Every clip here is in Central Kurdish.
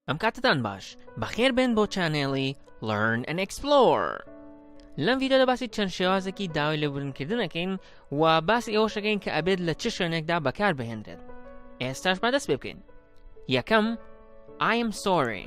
ئەم کاتتان باش بەخێر بێن بۆ چانێڵی Learn and Explore لەم ڤیددیۆدا باسی چەند شێوازێکی داوای لێبوورنکردنەکەین و باسی ئەوەشەکەین کە ئەبێت لە چ شوێنێکدا بەکار بهێنرێت ئێستاش بەدەست پێ بکەین یەکەم I'm sorry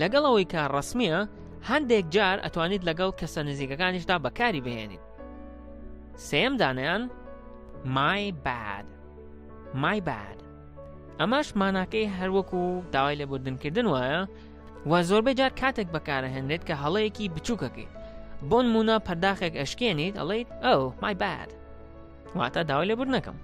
لەگەڵ ئەوەی کە ڕسمیە هەندێک جار ئەتوانیت لەگەڵ کەسە نزیکەکانیشدا بەکاری بهێنیت سێم دانیان مای باد مای باد ئەمەش ماناکەی هەروەکو و داوای لێبوردنکردن وایە و زۆربەی جار کاتێک بەکارهێنرێت کە هەڵەیەکی بچووکەکەیت بۆن مونا پەرداخێک ئەشکێنیت ئەڵیت ئەو مای باد واتە داوای لێبور نەکەم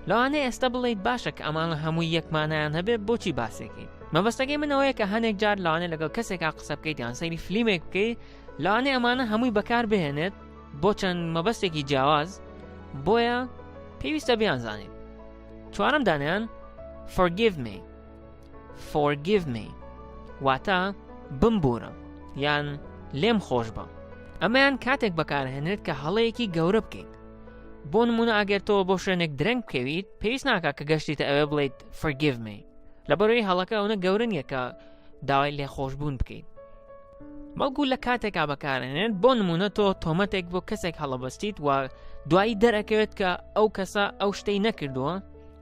لەوانەیە ئێستا بڵیت باشە کە ئەمانە هەمووی یەکمانیان هەبێ بۆچی باسێکین مەبەستەکەی منەوەیە کە هەندێک جار لەوانێ لەگەڵ کەسێکا قسە بکەیت یان سەیری فلیمێک بکەیت لەوانێ ئەمانە هەمووی بەکار بهێنێت بۆ چەند مەبەستێکی جیاواز بۆیە پێویستە بیانزانین چوارم دانیان forgive me Forgive me واتە بمبوورە یان لێم خۆش بە ئەمەیان کاتێک بەکارهێنێت کە هەڵەیەکی گەورە بکەیت بۆ نمونە ئەگەر تۆ بۆ شوێنێک درەنگ بکەویت پێویست ناکە کە گەشتیتە ئەوێ بڵیت Forgive me لە بەرەوەی هەڵەکە ئەوە گەورن یەکە داوای لێ خۆشببوون بکەیت بەڵکو لە کاتێکا بەکارێنێت بۆ نمونە تۆ تۆمەتێک بۆ کەسێک هەڵەبەستیت و دوایی دەرەکەوێت کە ئەو کەسە ئەو شتەی نەکردووە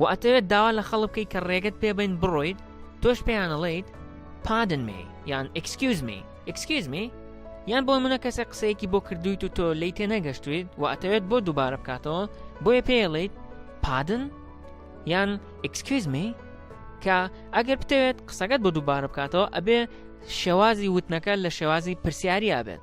وە ئەتەوێت داوا لە خەڵک بکەیت کە ڕێگەت پێ بەین بڕۆیت تۆش پێیان ئەڵێیت Pardon me یان Excuse me Excuse me یان بۆ منە کەسێک قسەیەکی بۆ کردویت و تۆ لی تێ نەگەشتویت و ئەتەوێت بۆ دووبارە بکاتەوە بۆیە پێڵیت پادن یان Excuse me کە ئەگەر بتەوێت قسەکەت بۆ دووبارە بکاتەوە ئەبێ شێوازی وتنەکە لە شێوازی پرسیاریا بێت